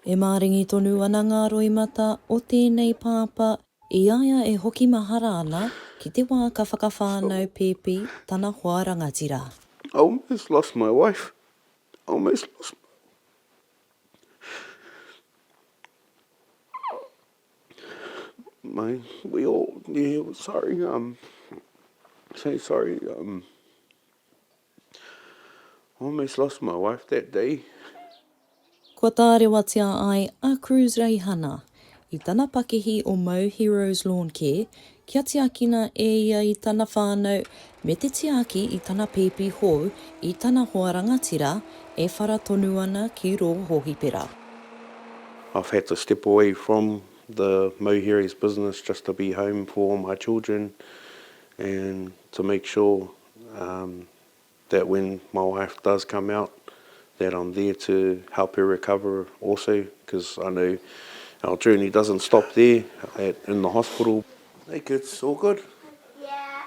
E māringi tonu ana ngā roimata o tēnei pāpā i a ia e hoki mahara ana ki te wā ka whakawhānau pēpi tana hoa rangatira. I almost lost my wife, I almost lost my my we all yeah sorry um say sorry um. I almost lost my wife that day. Kua tārewatia ai a Cruz Reihana i tana pakihi o Mau Heroes Lawn Care kia tiakina e ia i tana whānau me te tiaki i tana pēpi hou i tana hoa rangatira e whara tonu ana ki rō hōhipera. I've had to step away from the Mau Heroes business just to be home for all my children and to make sure Um that when my wife does come out that I'm there to help her recover also cos I know our journey doesn't stop there at in the hospital. Hey kids, all good?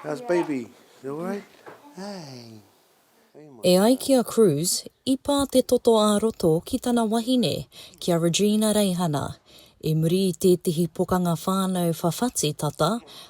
How's baby? You alright? Hey. E ai ki a Cruz, i pā te toto ā-roto ki tana wahine, ki a Regina Reihana. I muri i tētehi pokanga whānau whawhati tata,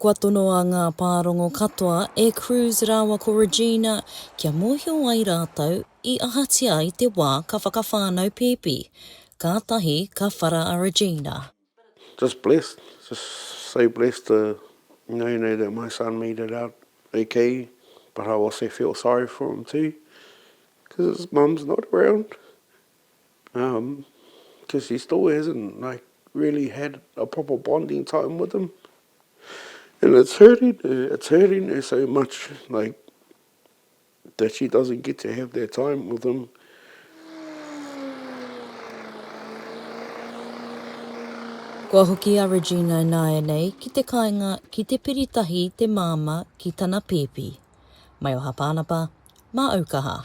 Kua tonoa ngā pārongo katoa e Cruz rāua ko Regina kia mōhio ai rātou i ahatia i te wā ka whakawhānau pēpi. Kātahi ka whara a Regina. Just blessed, just so blessed to know know that my son made it out ok but I also feel sorry for him too cause his mum's not around. Because he still hasn't like really had a proper bonding time with him. And it's hurting her, it's hurting her so much like that she doesn't get to have that time with him. Kua hoki a Regina ināianei ki te kāinga ki te piri tahi te māmā ki tana pēpi. Maioha Pānapa, Māaukaha.